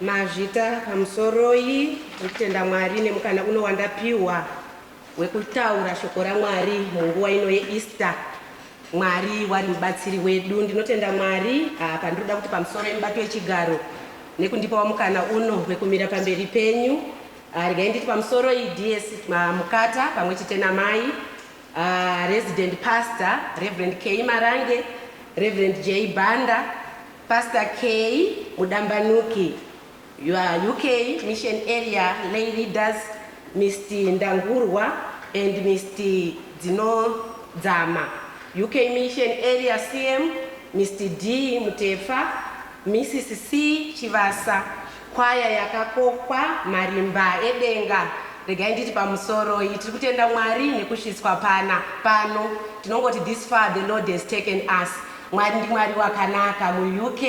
Mazvita pamusoroi ndikutenda Mwari nemukana uno wandapiwa wekutaura shoko raMwari munguva ino yeEaster. Mwari wari mubatsiri wedu. Ndinotenda Mwari apa ndinoda kuti pamusoro yemubato wechigaro nekundipawo mukana uno wekumira pamberi penyu. Ah, regai nditi pamusoro iyi DS ah, Mukata pamwe chete namai ah, resident pastor Reverend K Marange, Reverend J Banda, Pastor Kay Mudambanuki, your UK mission area lay leaders Mr Ndangurwa and Mr Dzinodzama, UK mission area CM Mr D Mutefa, Mrs C Chivasa, kwaya yakakokwa marimba edenga regai nditi pamusoro iyi tiri kutenda mwari nekusvitswa pana pano tinongoti this far the lord has taken us Mwari ndiMwari wakanaka muUK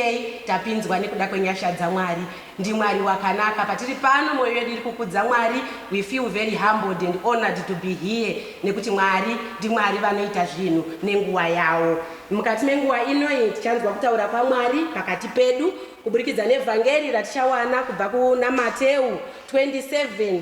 tapinzwa nekuda kwenyasha dzaMwari ndiMwari wakanaka patiri pano moyo yedu iri kukudza Mwari we feel very humbled and honoured to be here nekuti Mwari ndiMwari vanoita zvinhu nenguva yawo mukati menguva inoyi tichanzwa kutaura kwaMwari pakati pedu kuburikidza nevhangeri ratichawana kubva kunaMateu 27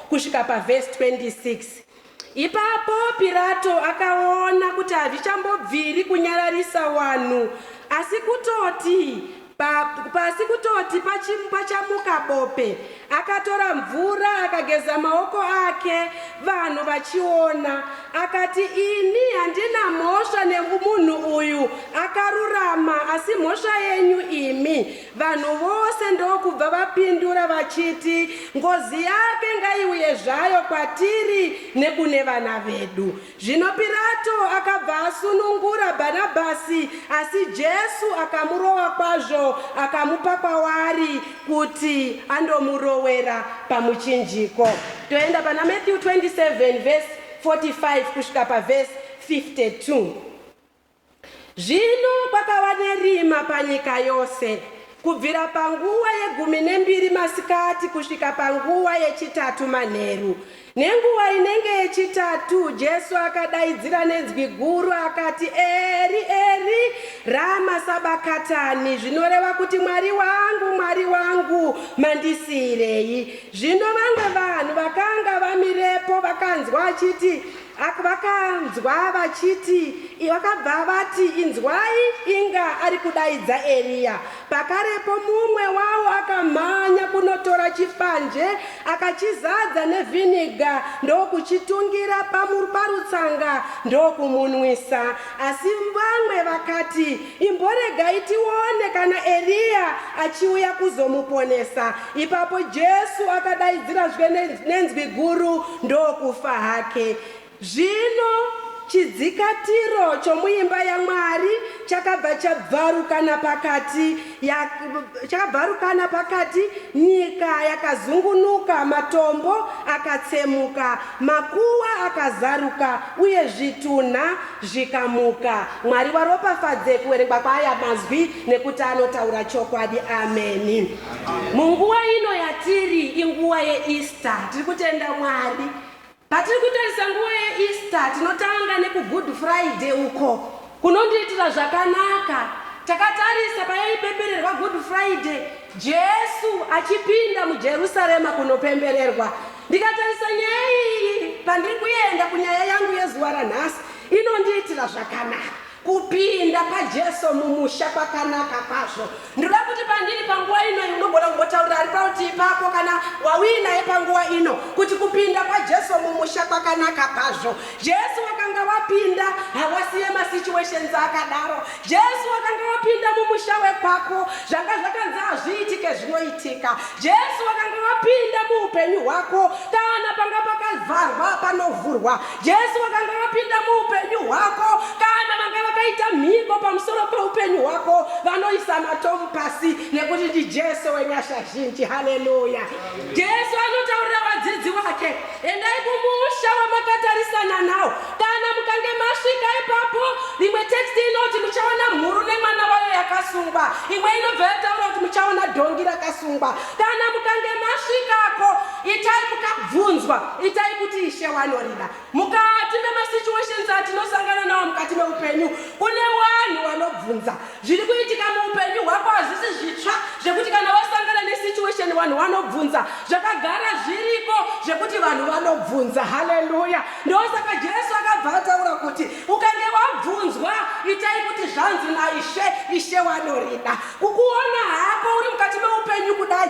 Kusvika pavhesi 26. Ipapo Pirato akaona kuti hazvichambobviri kunyararisa wanhu, asi kutoti pa, pasi kutoti pachim- pachamuka bope, akatora mvura akageza maoko ake, vanhu vachiona. Akati, Ini handina mhosva nemunhu uyu, akarurama, asi mhosva yenyu imi. Vanhu vose ndokubva vapindura vachiti, Ngozi yake ngaiuye zvayo kwatiri nekune vana vedu. Zvino Pirato akabva asunungura Bhanabhasi, asi Jesu akamurova kwazvo akamupa kwavari kuti andomurowera pamuchinjiko. Toenda pana Matthew 27 verse 45 kusvika pavhesi 52. Zvino kwakava nerima panyika yose, kubvira panguva yegumi nembiri masikati kusvika panguva yechitatu manheru. Nenguva inenge yechitatu Jesu akadaidzira nenzwi guru akati, Eri, Eri, rama sabakatani, zvinoreva kuti, Mwari wangu, Mwari wangu, mandisiirei? Zvino vamwe vanhu vakanga vamirepo vakanzwa achiti, Ak vakanzwa vachiti, i vakabva vati, Inzwai, inga ari kudaidza Eriya. Pakarepo mumwe wavo akamhanya kunotora chipanje, akachizadza nevhiniga ndokuchitungira pamur parutsanga ndokumunwisa. Asi vamwe vakati, Imboregai tione kana Eriya achiuya kuzomuponesa. Ipapo Jesu akadaidzira zve nenzwi guru ndokufa hake. Zvino chidzikatiro chomuimba yaMwari chakabva chabvarukana pakati, ya, chakabvarukana pakati, nyika yakazungunuka, matombo akatsemuka, makuwa akazaruka, uye zvitunha zvikamuka. Mwari waropafadze kuverengwa kwaaya mazwi. nekuti anotaura chokwadi ameni munguva ino yatiri inguva yeeaster tiri kutenda mwari patiri kutarisa nguva yeeaster tinotanga nekugood friday uko kunondiitira zvakanaka takatarisa payaipepererwa good friday jesu achipinda mujerusarema kunopembererwa ndikatarisa nyaya iyi pandiri kuenda kunyaya yangu yezuva ranhasi inondiitira zvakanaka Kupinda paJesu mumusha kwakanaka kwazvo. Ndinoda kuti pandiri panguva ino unogona kungotaurira ari parutivi pako kana wauyi naye panguva ino kuti kupinda kwaJesu mumusha kwakanaka kwazvo. Jesu wakanga wapinda hawasiye masituations akadaro. Jesu wakanga wapinda mumusha wekwako zvanga zvakanzi hazviitike zvinoitika. Jesu wakanga wapinda muupenyu hwako kana panga pakavharwa panovhurwa. Jesu vakanga vapinda muupenyu hwako kana vanga vakaita mhiko pamusoro peupenyu hwako vanoisa matomu pasi nekuti ndijesu wenyasha zhinji haleluya jesu anotaurira vadzidzi vake endai kumusha wamakatarisana nawo kana mukange masvika ipapo rimwe teksti inoti muchaona mhuru nemwana wayo yakasungwa imwe inobva yataura kuti muchaona dhongi rakasungwa kana mukange masvikako Itai mukabvunzwa, itai kuti Ishe wanorida. Mukati memasituations atinosangana nawo mukati meupenyu, kune vanhu vanobvunza. Zviri kuitika muupenyu hwako hazvisi zvitsva zvekuti kana wasangana nesituation vanhu vanobvunza. Zvakagara zviriko zvekuti vanhu vanobvunza. Haleluya! Ndosaka Jesu akabva ataura kuti ukange wabvunzwa, itai kuti zvanzi naIshe, Ishe wanorida. Kukuona hako uri mukati meupenyu kudai,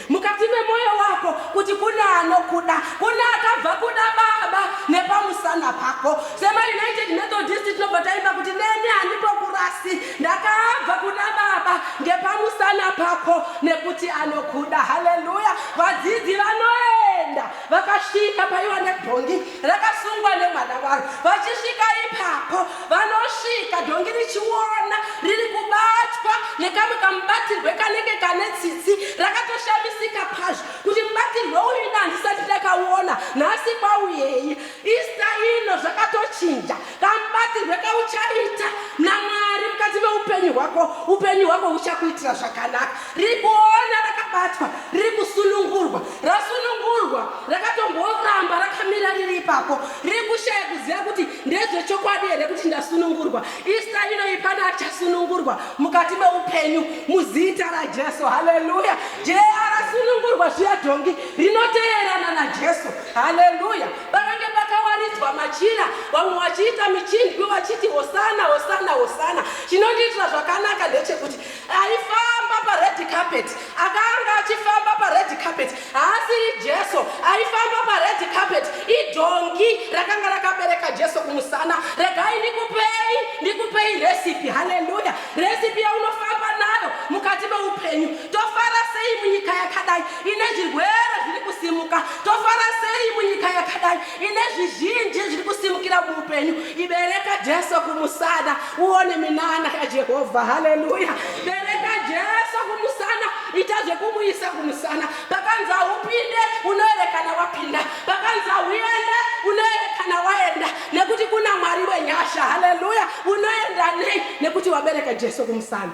Mukati memoyo wako kuti kune anokuda, kune akabva kuda baba nepamusana pako. Sema United Methodist tinobva taimba kuti neni handimbokurasi, ndakabva kuda baba ngepamusana pako nekuti anokuda. Haleluya! Vadzidzi vanoenda vakasvika paiva nebhongi rakasungwa nemwana waro vachisvika ipapo vanosvika dhongi richiona riri kubatwa nekamwe kamubatirwe kanenge kane tsitsi rakatoshamisika kwazvo kuti mubatirwe uyu ina handisati ndakaona nhasi kwauyei ista ino zvakatochinja Kamubatirwe kauchaita naMwari mukati meupenyu hwako, upenyu hwako huchakuitira zvakanaka. Riri kuona rakabatwa, riri kusunungurwa, rasunungurwa, rakatomboramba rakamira riri ipapo, riri kushaya kuziva kuti ndezvechokwadi here kuti ndasunungurwa. Ista inoyi pane achasunungurwa mukati meupenyu muzita raJesu. Haleluya! Jesu arasunungurwa zviya dhongi rinoteerana naJesu. Haleluya! Pakange pakawaridzwa machira, vamwe vachiita michindwi vachiti hosana, hosana, hosana. Chinondiitira zvakanaka ndechekuti aifamba pared carpet, akanga achifamba pared carpet haasiri Jesu, aifamba pared carpet idhongi rakanga rakabereka Jesu kumusana. Regai ndikupei, ndikupei recipe, haleluya, recipe yaunofamba nayo mukati meupenyu. Tofara sei munyika yakadai ine zvirwere zviri kusimuka? Tofara sei munyika yakadai ine zvizhinji zviri kusimukira muupenyu? Ibereka Jesu kumusana, uone minana yaJehovha. Haleluya! Bereka Jesu kumusana, ita zvekumuisa kumusana. Pakanzi haupinde, unoerekana wapinda. Pakanzi hauende, unoerekana waenda, nekuti kuna Mwari wenyasha. Haleluya! Unoenda nei? Nekuti wabereka Jesu kumusana.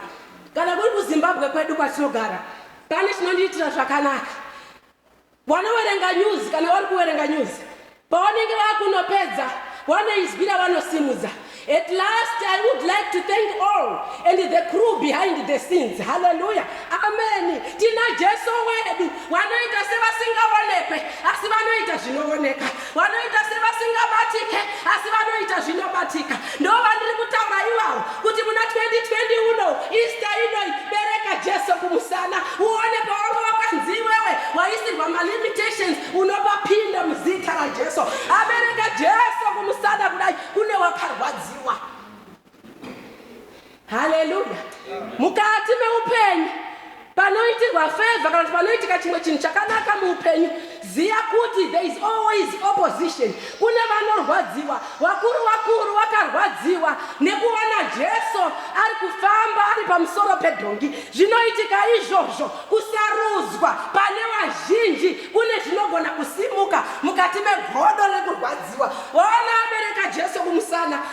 Kana kuri kuZimbabwe kwedu kwatinogara pane chinondiitira zvakanaka. Wanowerenga news kana wari kuwerenga news pawanenge vakunopedza wanoizwira vanosimudza. At last I would like to thank all and the crew behind the scenes. Hallelujah. Amen. Tina Jesu wedu wanoita sevasingaonekwe asi vanoita zvinooneka. Vanoita sevasingabatike asi vanoita zvinobatika. Ndoo vandiri kutaura iwawo kuti muna 2020 uno Easter inoi bereka Jesu kumusana uone pawanga wakanzi iwewe waisirwa malimitations unopapinda muzita raJesu. Abereka Jesu kumusana kudai kune wakarwadziwa. haleluya mukati meupenyu panoitirwa feva kana kuti panoitika chimwe chinhu chakanaka muupenyu ziva kuti there is always opposition kune vanorwadziwa vakuru vakuru vakarwadziwa nekuva najesu ari kufamba ari pamusoro pedhongi zvinoitika izvozvo kusarudzwa pane vazhinji kune zvinogona kusimuka mukati megodo rekurwadziwa vaona abereka jesu kumusana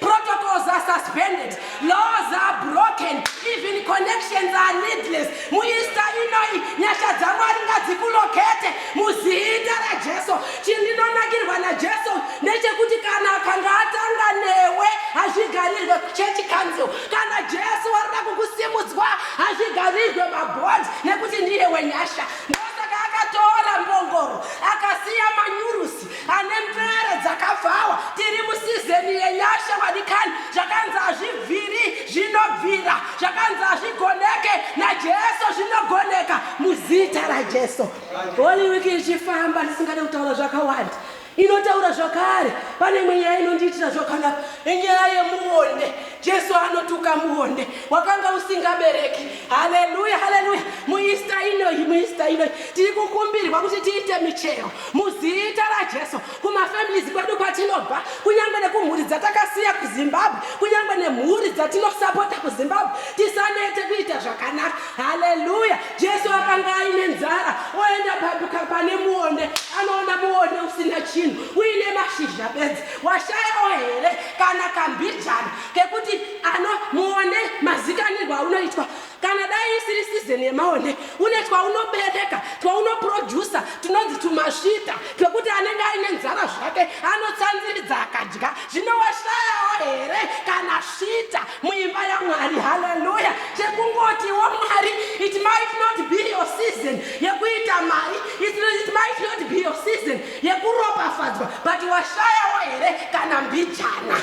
Protocols are suspended, laws are broken, even connections are needless. Muista inoi nyasha dzaMwari ngadzikulokete muzita raJesu. Chindinonakirwa naJesu ndechekuti kana akanga atanga newe hazvigarirwe kuchurch council. Kana Jesu warira kukusimudzwa hazvigarirwe mabond nekuti ndiye wenyasha. Ndosaka akatora mbongoro akasiya manyurusi. ane mvere dzakabvawa tiri musizeni yenyasha vadikani zvakanzi hazvibviri zvinobvira zvakanzi hazvigoneke najesu zvinogoneka muzita rajesu holy week ichifamba ndisingade kutaura zvakawanda inotaura zvakare pane imwe nyaya inondiitira zvakanaka inyaya yemuonde jesu anotuka muonde wakanga usingabereki haleluya haleluya muista inoyi muista inoyi tiri kukumbirwa kuti tiite michero Muzita raJesu, kumafamilies kwedu kwatinobva, kunyange nekumhuri dzatakasiya kuZimbabwe, kunyange nemhuri dzatinosapota kuZimbabwe, tisanete kuita zvakanaka. Haleluya! Jesu akanga aine nzara, oenda paduka pane muonde, anoona muonde usina chinhu, uine mashizha bedzi. Washayawo here kana kambijana kekuti ano muonde mazikanirwa aunoitwa? kana dai isiri season yemaonde une twaunobereka twaunoproducer tunonzi tumasvita twekuti anenge aine nzara zvake anotsanziridza akadya zvino washayawo here kana svita muimba yamwari haleluya chekungotiwo mwari it might not be your season yekuita mari it, it might not be your season yekuropafadzwa but washayawo here kana mbijana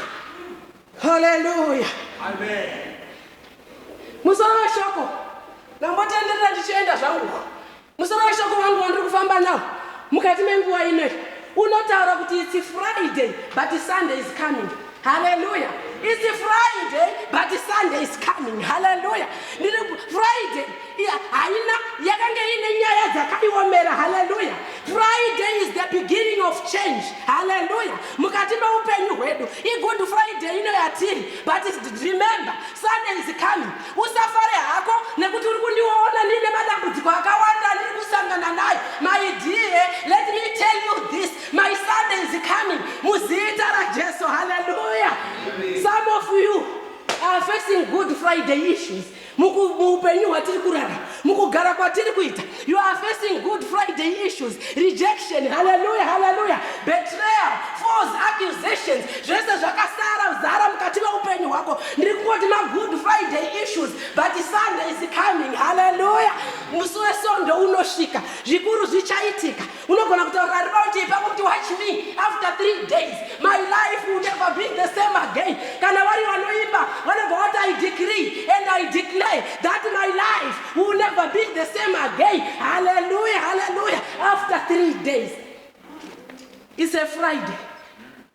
Haleluya. Amen. Musoro weshoko ndambotenderera ndichienda zvangu. Musoro weshoko wangu wandiri kufamba nawo mukati menguva inoyi unotaura kuti it's Friday but Sunday is coming. Haleluya. It's Friday but Sunday is coming. Haleluya. Ndiri Friday haina yakanga ine nyaya dzakaiomera haleluya friday is the beginning of change haleluya mukati meupenyu hwedu igood friday ino yatiri but remember sunday is coming usafare hako nekuti uri kundiona ndine madambudziko akawanda ndiri kusangana nayo my dear let me tell you this my sunday is coming muzita rajesu haleluya some of you are facing good friday issues Muku- muupenyu hwatiri kurarama mukugara kwatiri kuita you are facing good friday issues rejection haleluya haleluya betrayal false accusations zvese zvakasara zara mukati meupenyu hwako ndiri kungoti magood friday issues but sunday is coming haleluya musi wesvondo unosvika zvikuru zvichaitika Unogona kutaura raundi ipapo kuti watch me after three days my life will never be the same again. Kana vari vanoimba vanobva vati I decree and I declare that my life will never be the same again. Hallelujah, hallelujah. After three days. It's a Friday.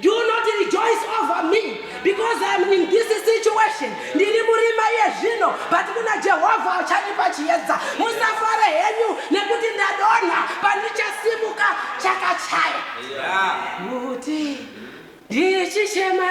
Do not rejoice over me because I am in this situation. Ndiri murima iye zvino but kuna Jehovha achandipa chiedza. Musafare henyu nekuti ndadonha pandichasimuka chakachaya. Kuti ndichichema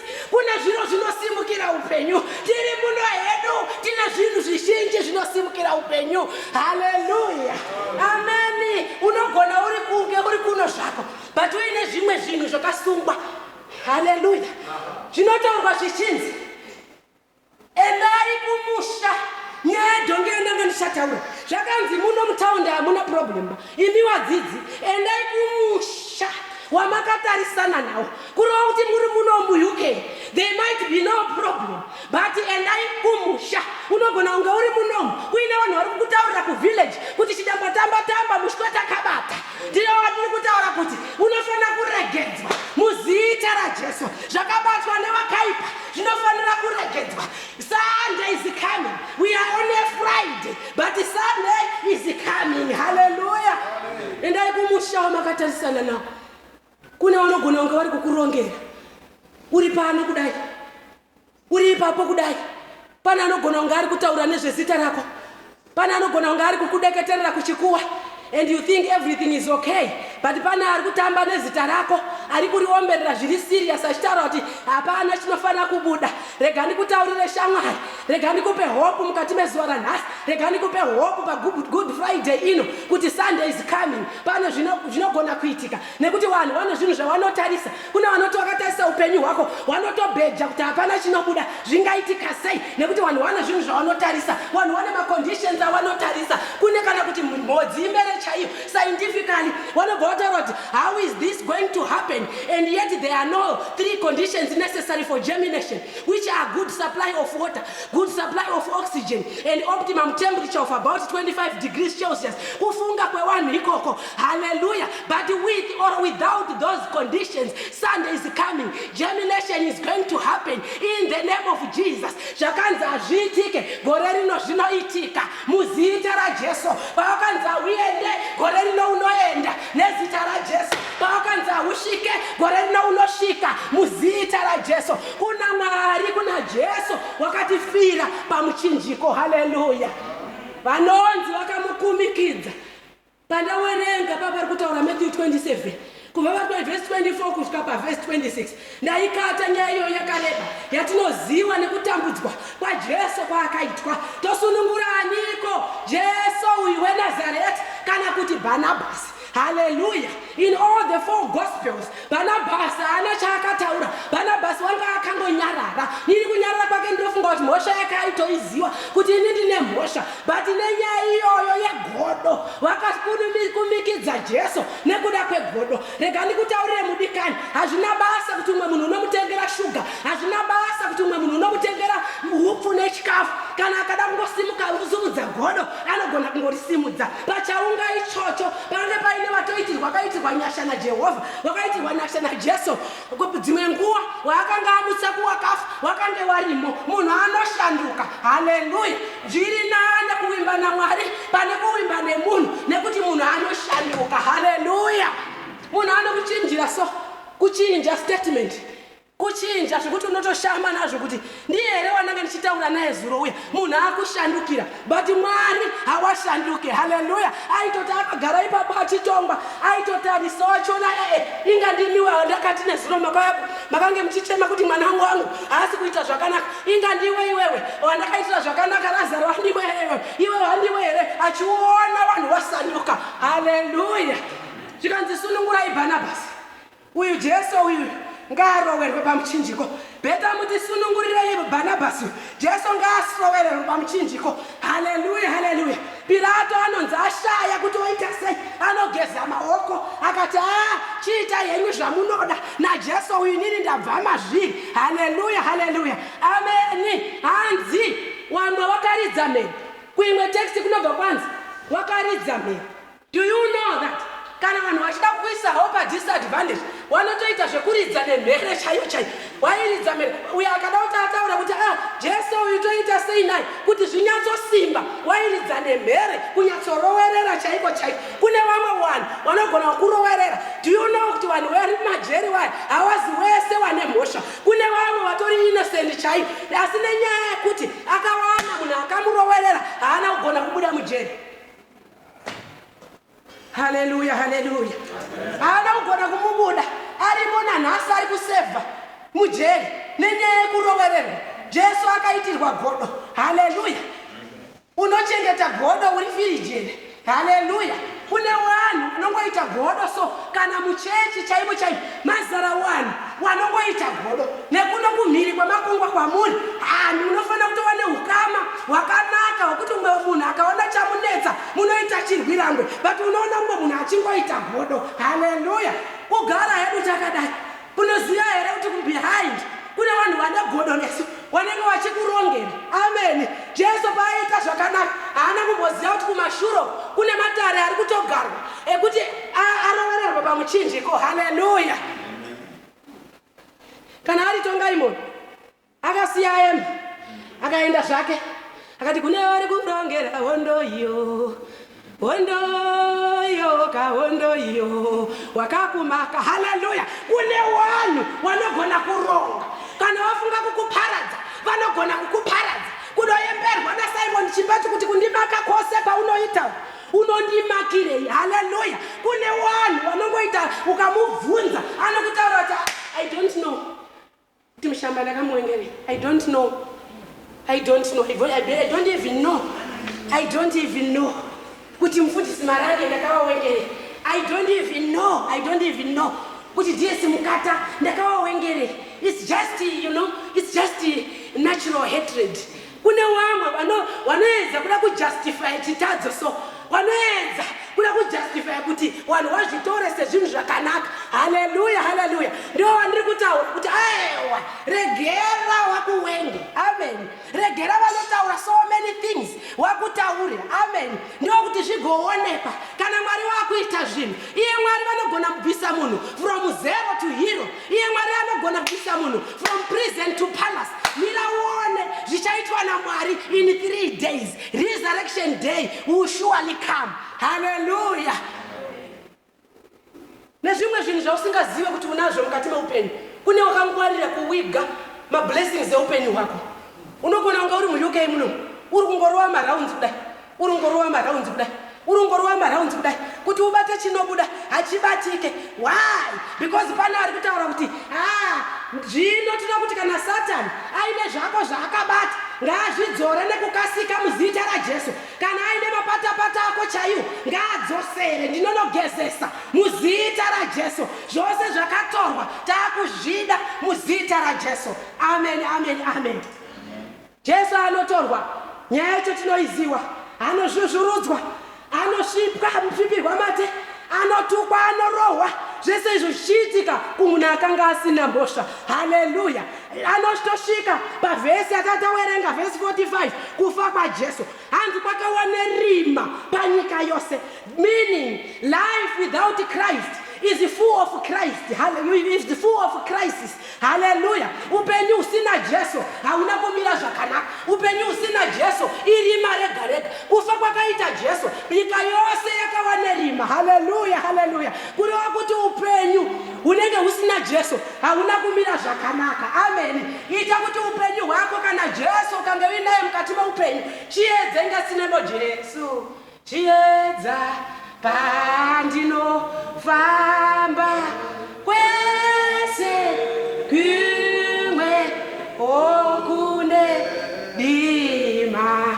Kune zviro zvinosimukira upenyu. Tiri muno hedu tine zvinhu zvizhinji zvinosimukira upenyu. Haleluya. Ameni. Unogona uri kunge uri kuno zvako but uine zvimwe zvinhu zvakasungwa. Haleluya. Zvinotaurwa zvichinzi Endai kumusha. Nyaya yedhongi iyo ndanga ndichataura. Zvakanzi muno mutaundi hamuna problem ba. Imi wadzidzi endai kumusha wamakatarisana nawo. Kureva kuti muri muno muUK there might be no problem but endai kumusha. Unogona kunge uri munomu kuine vanhu vari kukutaurira kuvillage kuti chidamba tamba tamba mushweta kabata. Ndiye watiri kutaura kuti unofanira kuregedzwa muzita raJesu. Zvakabatwa nevakaipa zvinofanira kuregedzwa. Sunday is coming. We are on a Friday, but Sunday is coming. Hallelujah. Endai kumusha wamakatarisa nao. Kune vanogona kunge vari kukurongera. Uri pano kudai. Uri ipapo kudai. Pane anogona kunge ari kutaura nezvezita rako. Pane anogona kunge ari kukudeketerera kuchikuwa and you think everything is okay but pane ari kutamba nezita rako ari kuriomberera zviri serious achitaura kuti hapana chinofanira kubuda rega ndikutaurire shamwari rega ndikupe hope mukati mezuva ranhasi rega ndikupe hope pagood friday ino kuti sunday is coming pane zvinogona kuitika Nekuti vanhu vane zvinhu zvavanotarisa. Kune vanoti vakatarisa upenyu hwako vanotobheja kuti hapana chinobuda. Zvingaitika sei? Nekuti vanhu vane zvinhu zvavanotarisa. Vanhu vane maconditions avanotarisa. Kune kana kuti mhodzi imere chaiyo. Scientifically vanobva vataura kuti how is this going to happen and yet there are no three conditions necessary for germination which are good supply of water, good supply of oxygen and optimum temperature of about 25 degrees Celsius. Kufunga kwevanhu ikoko. Hallelujah. But with or without those conditions, Sunday is coming. Germination is going to happen in the name of Jesus. Zvakanzi hazviitike gore rino zvinoitika muzita raJesu. Pavakanzi hauende gore rino unoenda nezita raJesu. Pavakanzi hausvike gore rino unosvika muzita raJesu. Kuna Mwari, kuna Jesu wakatifira pamuchinjiko. Hallelujah. Vanonzi vakamukumikidza Pandawerenga papari kutaura Matthew 27 kubva vari pavhesi 24 kusvika pavhesi 26 ndaikata nyaya iyoyo yakareba yatinoziva nekutambudzwa kwajesu kwaakaitwa tosunungura aniko jesu uyu wenazareti kana kuti bhanabhasi haleluya In all the four gospels, Barnabas haana chaakataura. Barnabas wanga akangonyarara. Iri kunyarara kwake ndinofunga kuti mhosva yake aitoiziva kuti ini ndine mhosva. But nenyaya iyoyo yegodo, vakakumikidza Jesu nekuda kwegodo. Rega ndikutaurire mudikani, hazvina basa kuti umwe munhu unomutengera shuga, hazvina basa kuti umwe munhu unomutengera hupfu nechikafu. Kana akada kungosimuka kuzungudza godo, anogona kungorisimudza pachaunga ichocho pange paine vatoitirwa vakaitirwa nyasha najehovha vakaitirwa nyasha najesu dzimwe nguva waakange amutsa kuwakafa wakange warimo munhu anoshanduka haleluya zviri nane kuvimba namwari pane kuvimba nemunhu nekuti munhu anoshanduka haleluya munhu anokuchinjira so kuchinja statement Kuchinja zvekuti unotoshama nazvo kuti ndiye here wananga ndichitaura naye zuro uya munhu akushandukira but Mwari hawashanduke haleluya aitoti akagara ipapo achitongwa aitoti aniso wachona ee eh, eh, inga ndimiwe wandakati nezuro mababa makange muchichema kuti mwana wangu wangu haasi kuita zvakanaka inga ndiwe iwewe wandakaitira zvakanaka razaro wandiwe iwewe iwe wandiwe here achiona vanhu wasanduka haleluya zvikanzi sunungurai bhanabhasi Uyu Jesu uyu ngaarowerwe pamuchinjiko. Beta muti sunungurirei Barnabas uyu. Jesu ngaasowererwe pamuchinjiko. Haleluya, haleluya. Pirato anonzi ashaya kuti oita sei, anogeza maoko akati, aa chiita henyu zvamunoda naJesu uyu, inini ndabva mazviri. Haleluya, haleluya, ameni. Hanzi wamwa wakaridza mhere. Kuimwe teksti kunobva kwanzi wakaridza mhere. Do you know that kana vanhu vachida kukuisa havo padisadvantage wanotoita zvekuridza nemhere chaiyo chaiyo wairidza mhere uyo akada kuti ataura kuti a ah, jesu uyu toita sei naye kuti zvinyatsosimba wairidza nemhere kunyatsorowerera chaiko chaiko kune vamwe vanhu vanogona kukurowerera do you know kuti vanhu vari majeri waya hawazi wese wane mhosva kune vamwe vatori innocent chaiyo asi nenyaya yekuti akawana munhu akamurowerera haana kugona kubuda mujeri haleluya haleluya haana kugona kumubuda arimo nanhasi ari kusevha mujeri nenyaya yekurovererwa jesu akaitirwa godo haleluya unochengeta godo uri firijeni haleluya kune wanhu unongoita godo so kana muchechi chaimo chaimo mazara wanhu wanongoita godo nekuno kumhiri kwemakungwa kwamuri hanhu munofanira kutova neukama hwakanaka hwekuti umwe munhu akaona chamunetsa munoita chirwirangwe but unoona umwe munhu achingoita godo haleluya kugara hedu takadai kunoziva here kuti kubehind kune vanhu vane godo nesu wanenge wachikurongera ameni jesu paaiita zvakanaka haana kumboziva kuti kumashuro kune matare ari kutogarwa ekuti arovererwa pamuchinjiko haleluya kana ari tongaimoni akasiya aema akaenda zvake akati kune vari kurongera hondo iyo hondo iyo kahondo iyo wakakumaka haleluya kune wanhu wanogona kuronga kana wafunga kukuparadza vanogona kukuparadza kunoyemberwa nasimon chipati kuti kundimaka kwose kwaunoita Unondimakirei? Haleluya! Kune wanhu wanongoita ukamubvunza anokutaura kuti I don't know. Kuti mushamba ndakamuwengerei? I don't know. I don't know. I don't even know. I don't even know. Kuti mufundisi marage ndakawawengerei? I don't even know. I don't even know. Kuti DS mukata ndakawawengerei? It's just, you know, it's just natural hatred. Kune wamwe wano wanoedza kuda kujustify chitadzo so wanoedza kuda kujustify kuti wanhu wazvitore sezvinhu zvakanaka haleluya haleluya ndiwo wandiri kutaura kuti aewa regera wakuwenge amen regera vanotaura so many things wakutaure amen ndiwo kuti zvigoonekwa kana mwari wakuita zvinhu iye mwari vanogona kubvisa munhu from zero to hero Iye Mwari anogona kubvisa munhu from prison to palace. Mira uone zvichaitwa naMwari in three days. Resurrection day will surely come. Hallelujah. Nezvimwe zvinhu zvausingazive kuti unazvo mukati meupenyu. Kune wakangwarira kuwiga mablessings eupenyu hwako. Unogona kunga uri muUK muno uri kungorova marounds kudai. Urongorova marhaunzi kudai urongorova marhaunzi kudai kuti ubate chinobuda hachibatike why because pane ari kutaura kuti ha zvino tinoda kuti kana satani aine zvako zvaakabata ngaazvidzore nekukasika muzita rajesu kana aine mapatapata ako chaiwo ngaadzosere ndinonogezesa muzita rajesu zvose zvakatorwa taakuzvida muzita rajesu amen amen amen, amen. Jesu anotorwa, nyaya yacho tinoiziwa, anozvuzvurudzwa, anosvipwa, anosvipirwa mate, anotukwa, anorohwa, zvese izvo zvichiitika kumunhu akanga asina mhosva. Haleluya! Anotosvika pavhesi yakatawerenga, vhesi 45, kufa kwaJesu. Hanzi kwakava nerima panyika yose, meaning life without Christ is full of Christ. Hallelujah. Is the full of crisis. Hallelujah. Upenyu usina Jesu hauna kumira zvakanaka. Upenyu usina Jesu irima rega rega. Kufa kwakaita Jesu, nyika yose yakava nerima. Hallelujah. Hallelujah. Kureva kuti upenyu hunenge husina Jesu Hauna kumira zvakanaka. Ameni. Ita kuti upenyu hwako kana Jesu ukange uinaye mukati meupenyu chiedze inga sinebo Jesu. Chiedza pandino famba kwese kumwe okune dima.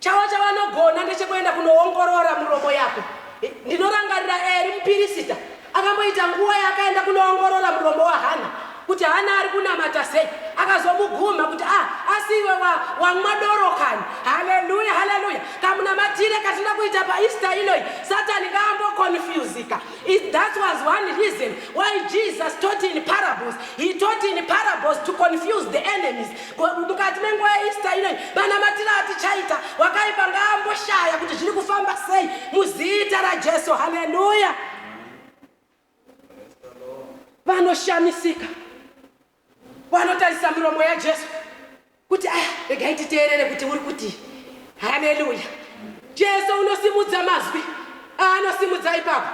Chavo chavanogona ndechekuenda kunoongorora muromo yako. Ndinorangarira Eri mupirisita akamboita nguva yaakaenda kunoongorora muromo waHana kuti Hana ari kunamata sei, akazomugumha kuti ah, asi iwe wamwa doro kani. Haleluya, haleluya! Kamunamatire katinoda kuita paEaster inoyi, Satani ngaambokonfuzika. That was one reason why Jesus taught in parables. He taught in parables to confuse the enemies. mukati menguva yeista inoi manamatira atichaita wakaipa ngaamboshaya kuti zviri kufamba sei muzita rajesu haleluya vanoshamisika vanotarisa miromo yajesu kuti aya regai titeerere kuti uri kuti haleluya jesu unosimudza mazwi aanosimudza ipapo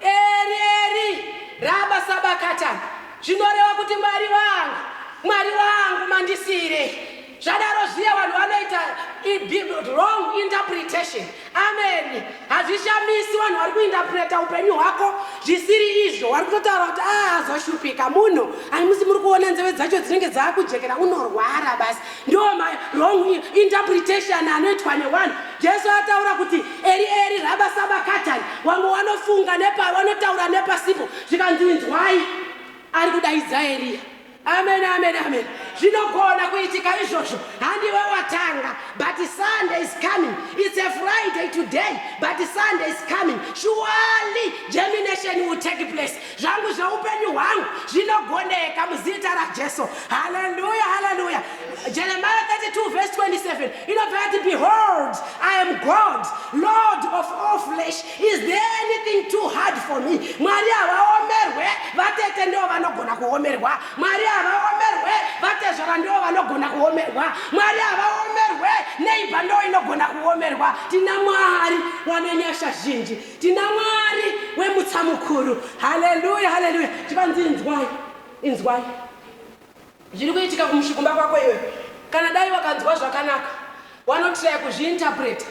eri eri raba sabakatani zvinoreva kuti mwari wangu mwari wangu mandisiirei zvadaro zviya vanhu vanoita wrong interpretation amen hazvishamisi vanhu vari kuinterpreta upenyu hwako zvisiri izvo wari kutotaura kuti ahazoshupika ah, munhu ani musi muri kuona nzeve dzacho dzinenge dzaakujekera unorwara basi ndiwo mawrong interpretation anoitwa newanhu jesu ataura kuti eri eri raba sabakatani wamwe wanofunga nepa wanotaura nepasipo zvikanzi inzwai ari kudaidza eriya amen amen amen zvinogona kuitika izvozvo handiwe watanga but sunday is coming it's a friday today but sunday is coming surely germination will take place zvangu zveupenyu hwangu zvinogoneka muzita rajesu haleluya haleluya jeremiah 32 verse 27 inobva yati behold i am god lord of all flesh is there anything too hard for me mwari havaomerwe vatete ndivo vanogona kuomerwa mwari havaomerwe vatezvara ndivo vanogona kuomerwa mwari havaomerwe neiba ndo inogona kuomerwa tina mwari wane nyasha zhinji Tina Mwari wemutsa mukuru. Haleluya, haleluya. Chivanzi inzwai, inzwai zviri kuitika kumushu kumba kwako iwe. Kana dai wakanzwa zvakanaka, wanotiraya kuzviinterpreta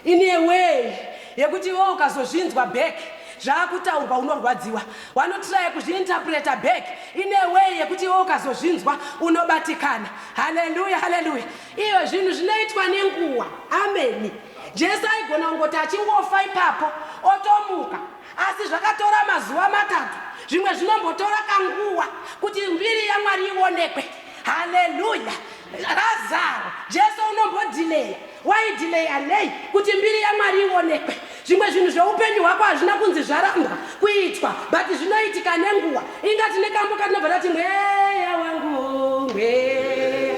in a way yekuti iwewe ukazozvinzwa back zvaakutaurwa unorwadziwa. Wanotiraya kuzviinterpreta back in a way yekuti iwewe ukazozvinzwa unobatikana. Haleluya, haleluya. Iyo zvinhu zvinoitwa nenguva. Ameni. Jesu aigona kungoti achingofa ipapo otomuka, asi zvakatora mazuva matatu, zvimwe zvinombotora kanguva kuti mbiri yaMwari ionekwe. Haleluya! Razaro, Jesu unombodhileya. Waidhileya nei kuti mbiri yaMwari ionekwe? Zvimwe zvinhu zveupenyu hwako hazvina kunzi zvarambwa kuitwa, but zvinoitika nenguva. Inga tine kambo katinobva tati mweya wangu, mweya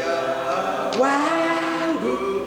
wangu.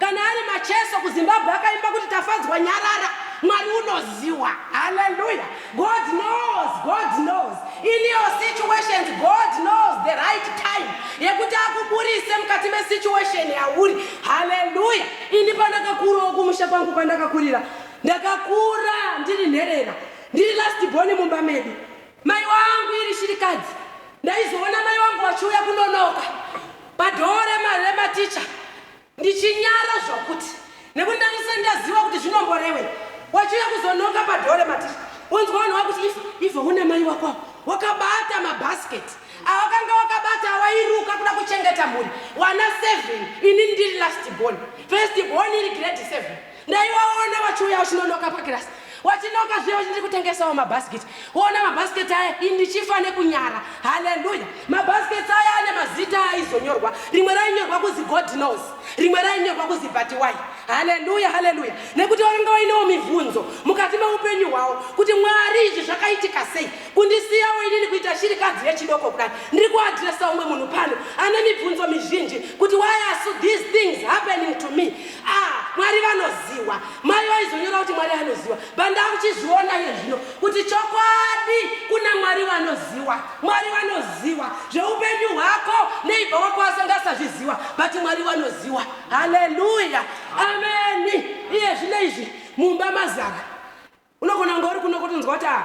Kana ari Macheso kuZimbabwe akaimba kuti Tafadzwa nyarara, Mwari unoziwa. Hallelujah. God knows, God knows. In your situations, God knows the right time yekuti akuburise mukati mesituation yauri. Hallelujah. Ini pandakakurawo kumusha kwangu kwandakakurira, ndakakura ndiri nherera, ndiri last born mumba medu. Mai wangu iri shirikadzi, ndaizoona mai wangu wachiuya kunonoka padhoo rematicha Ndichinyara zvokuti nekuti ndandisati ndaziva kuti zvinomborewe wachiuya kuzononga padhore maticha unzwa vanhu vakuti ifa ifa une mai wako wakabata mabhasiketi awakanga wakabata awairuka kuda kuchengeta mhuri wana seven ini ndiri last born first born iri grade seven ndaivaona vachiuya vachinonoka pakirasi vachinoka zviya vachiti kutengesawo mabhasiketi woona mabhasiketi aya indichifa nekunyara haleluya mabhasiketi aya ane mazita aizonyorwa rimwe rainyorwa kuzi god knows rimwe rainyorwa kuzi batiwai haleluya haleluya nekuti vakanga vainewo mibvunzo mukati meupenyu hwavo kuti mwari izvi zvakaitika sei kundisiyawo inini kuita shirikadzi yechidoko kudai ndiri kuadresa umwe munhu pano ane mibvunzo mizhinji kuti why are so these things happening to me ah mwari vanoziwa mai vaizonyora kuti mwari anoziwa but ndakuchizviona iye zvino kuti chokwadi kuna mwari vanoziwa mwari vanoziwa zveupenyu hwako neibva wako asangasazviziwa but mwari vanoziwa haleluya ameni iye zvino izvi mumba mazara Unogona kunge uri kuno kotonzwa kuti ah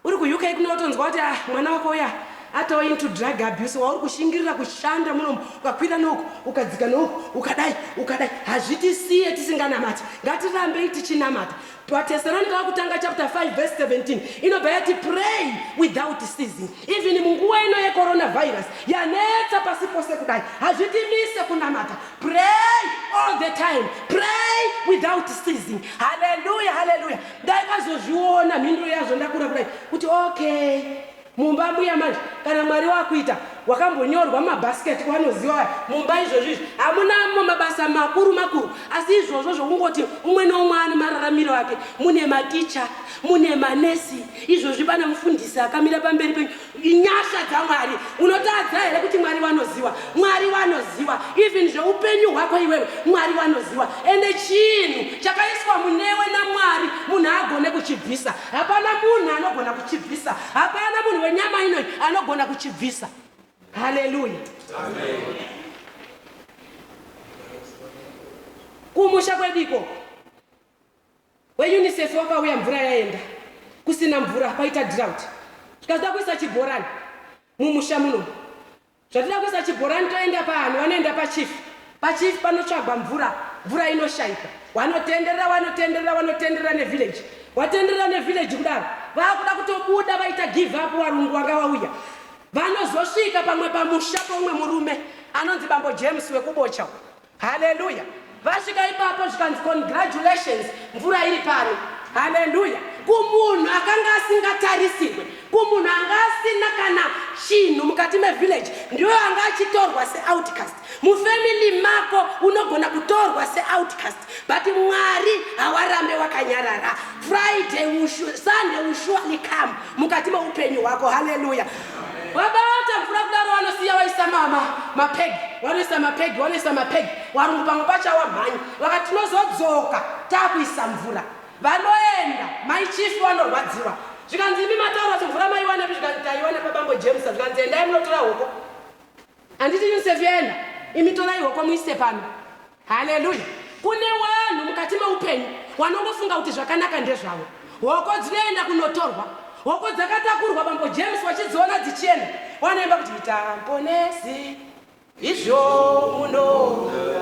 uri kuUK kuno wotonzwa kuti ah mwana wako uya atova into drug abuse wauri kushingirira kushanda munomu ukakwira neuku ukadzika neuku ukadai ukadai hazvitisiye tisinganamati ngatirambei tichinamata vateserani vakutanga chapter 5 verse 17 inobva yati pray without ceasing Even munguva ino yecoronavirus yanetsa pasi pose kudai, hazvitimise kunamata. Pray all the time, pray without ceasing. Hallelujah, hallelujah. Ndaikazozviona mhinduro yazvo ndakura kudai kuti okay, mumba mbuya manje kana Mwari wakuita wakambonyorwa mabasket kwanoziva mumba izvozvo izvi hamunamo mabasa makuru makuru asi izvozvo zvokungoti umwe noumwe ane mararamiro ake mune maticha mune manesi Izvozvi pana mufundisi akamira pamberi penyu, inyasha dzaMwari. Unotadza here kuti Mwari wanoziwa? Mwari wanoziwa even zveupenyu hwako iwewe, Mwari wanoziwa. Ende chinhu chakaiswa munewe naMwari munhu haagone kuchibvisa. Hapana munhu anogona kuchibvisa, hapana munhu wenyama inoyi anogona kuchibvisa. Haleluya, amen. kumusha kwedu ikoko WeUnicef wakauya mvura yaenda. Kusina mvura kwaita drought. Zvika toda kuisa chibhorani mumusha muno. Zvatoda kuisa chibhorani toenda paani? Wanoenda pachief. Pachief panotsvagwa mvura. Mvura inoshaika. Wanotenderera, wanotenderera, wanotenderera nevillage. Watenderera nevillage kudaro. Vakuda kutobuda vaita give up warungu wanga wauya. Vanozosvika pamwe pamusha poumwe murume anonzi bambo James wekuBocha uko. Haleluya. Vasvika ipapo zvikanzi congratulations mvura iri pano. Haleluya. Kumunhu akanga asingatarisirwe, kumunhu anga asina kana chinhu mukati mevillage, ndiyo anga achitorwa seoutcast. Mufamily mako unogona kutorwa seoutcast but Mwari hawarambe wakanyarara. Friday, Sunday will surely come mukati meupenyu hwako. Haleluya. vabata mvura kudaro vanosiya vaisa mama mapegi vanoisa mapegi vanoisa mapegi varungu pamwe pachawa mhanyi vakati tinozodzoka taakuisa mvura vanoenda mai chief vanorwadziwa zvikanzi imi mataura kuti mvura maiwanepi zvikanzi taiwana pabambo james zvikanzi endai munotora hoko Handiti Yosef yenda imi torai hoko muise pano. Hallelujah. Kune wanhu mukati meupenyu wanongofunga kuti zvakanaka ndezvavo. Hoko dzinoenda kunotorwa. Hoko dzakatakurwa bambo James wachidziona dzichienda. Wanoimba kuti ita mponesi izvo munoda.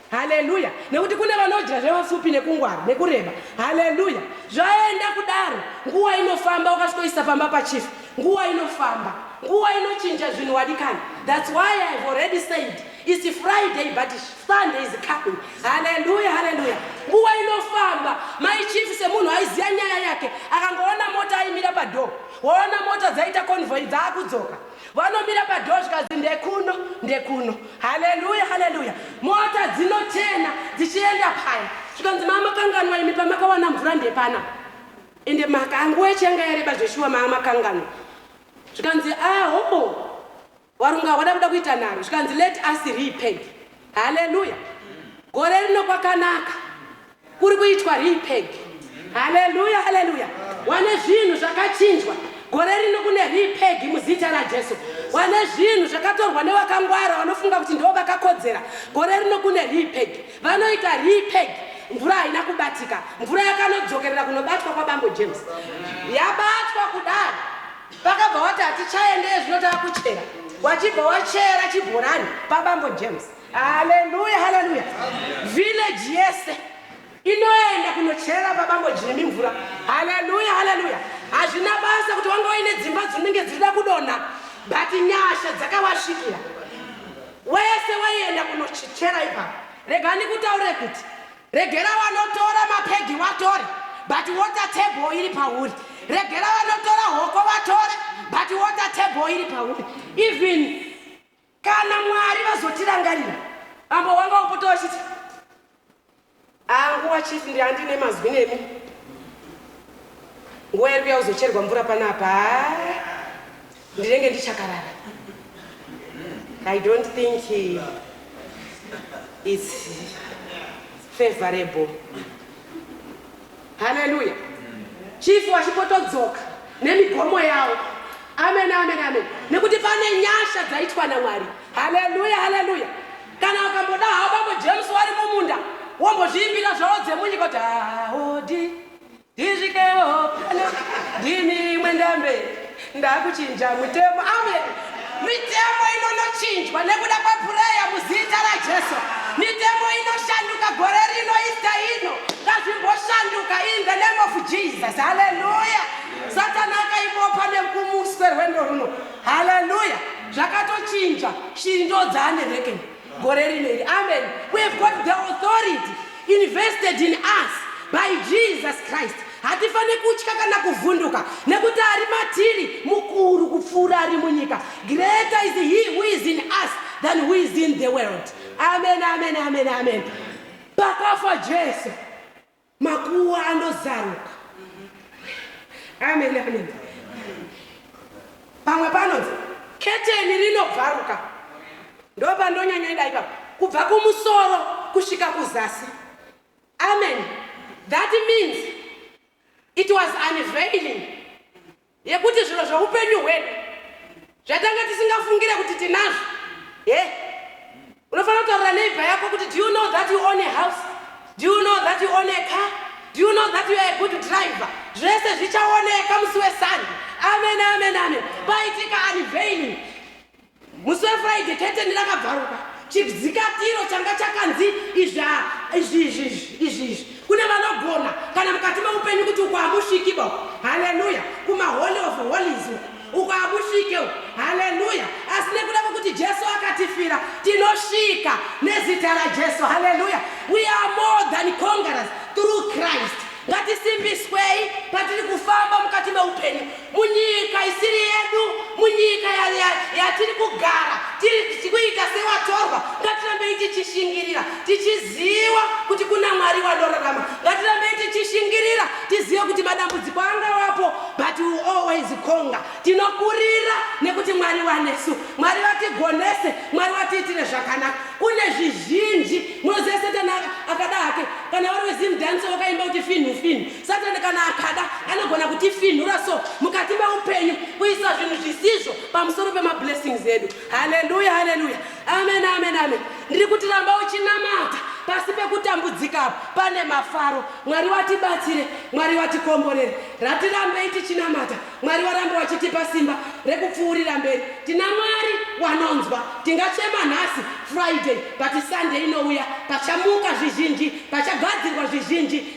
Haleluya! Nekuti kune vanodya zvevapfupi nekungwara nekureba. Haleluya! Zvaenda kudaro, nguva inofamba. Ukasvikoisa pamba pachief, nguva inofamba, nguva inochinja zvinhu wadikani. That's why I have already said it's Friday but Sunday is coming. Haleluya, haleluya! Nguva inofamba. Mai chief semunhu aiziva nyaya yake akangoona mota aimira padoor, waona mota dzaita convoy dzaakudzoka vanomira padhoo zvikanzi ndekuno ndekuno haleluya haleluya mota dzinochena dzichienda paya zvikanzi maamakanganwa imi pamakawana mvura ndepana ende maka anguva yachiyanga yareba zveshuwa maamakanganwa zvikanzi aho ah, warunga hwada kuda kuita nharo zvikanzi let us repent haleluya gore rino kwakanaka Kuri kuitwa repeg. Haleluya, haleluya. Wane zvinhu zvakachinjwa. Gore rino kune repeg muzita raJesu. Wane zvinhu zvakatorwa newakangwara wanofunga kuti ndiwo vakakodzera. Gore rino kune repeg. Vanoita repeg. Mvura haina kubatika. Mvura yakanodzokerera kunobatwa kwaBambo James. Yabatwa kudai. Pakabva wati hatichaende ezvino takuchera. Wachibva wachera chibhorani paBambo James. Haleluya, haleluya. Village yese inoenda kunocherera babango Jimmy mvura. Haleluya, haleluya. Hazvina basa kuti wanga waine dzimba dzinenge dzichida kudonha, but nyasha dzakawasvikira. Wese waienda kunochera ipapo. Rega ndikutaure kuti regera vanotora mapegi watore, but water table iri pauri. Regera vanotora hoko vatore, but water table iri pauri. Even Kana Mwari vazotirangarira mambo wanga wopota wachiti anguwa chief ndi andine mazwi nemi nguwa iri kuya uzocherwa mvura panapa ndinenge ndichakarara i don't think its favorable Haleluya. Chief wachipotodzoka nemigomo yawo. Amen, amen, amen. Nekuti pane nyasha dzaitwa naMwari. Haleluya, haleluya. Kana ukamboda hawo bambo James wari mumunda wombozviimbira zvawo dzemunyika kuti haodi ndisvikewo pano ndini mwendambe Ndakuchinja mutemo. Amen. Mitemo inonochinjwa nekuda kwepureya muzita raJesu. Mitemo inoshanduka gore rino ista ino. Ngazvimboshanduka in the name of Jesus. Haleluya. Satana akaibopa nekumuswe rwendo runo. Haleluya. Zvakatochinja. Shiri ndodzaane reckon. gore rino iri amen we have got the authority invested in us by jesus christ hatifanire kutya kana kuvhunduka nekuti ari matiri mukuru kupfuura ari munyika greater is he who is in us than who is in the world amen amen amen amen pakafa jesu Makuwa andozaruka. Amen, amen. Pamwe panonzi keteni rinobvaruka. Ndopandonyanya ida ipapo. Kubva kumusoro kusvika kuzasi. Amen. That means it was unveiling. Yekuti zviro zveupenyu hwedu zvatanga tisingafungire kuti tinazvo. He? Unofanira kutaurira neighbor yako kuti do you know that you own a house? Do you know that you own a car? Do you know that you are a good driver? Zvese zvichaoneka musi wesande. Amen, amen, amen. Paitika unveiling. Musi weFriday keteni rakabvaruka chidzikatiro changa chakanzi izvi izvi izvi izvi izvi kune vanogona kana mukati meupenyu kuti uko hamusviki bo haleluya kumaholy of holies uko hamusvike haleluya asi nekuda kwekuti jesu akatifira tinosvika nezita rajesu haleluya we are more than conquerors through christ ngatisimbiswei patiri kufamba mukati meupenyu munyika isiri yedu munyika yatiri ya, ya kugara tiri kuita sewatorwa ngatirambei tichishingirira tichiziva kuti kuna mwari wanorarama ngatirambei tichishingirira tizive kuti madambudziko angawapo but we always conga tinokurira nekuti mwari wanesu mwari vatigonese mwari vatiitire zvakanaka kune zvizhinji munoziva setani akada hake kana vari wezimdanso vakaimba kuti finhu finhu Satani kana akada anogona kutifinhura so mukati meupenyu kuisa zvinhu zvisizvo pamusoro pemablessings edu. Haleluya, haleluya, amen, amen, amen. Ndiri kuti ramba uchinamata pasi pekutambudzika apo pane mafaro. Mwari watibatsire, Mwari watikomborere. Ratirambei tichinamata, Mwari waramba wachitipa simba rekupfuurira mberi. Tina Mwari wanonzwa. Tingachema nhasi Friday, but Sunday inouya pachamuka zvizhinji, pachagadzirwa zvizhinji.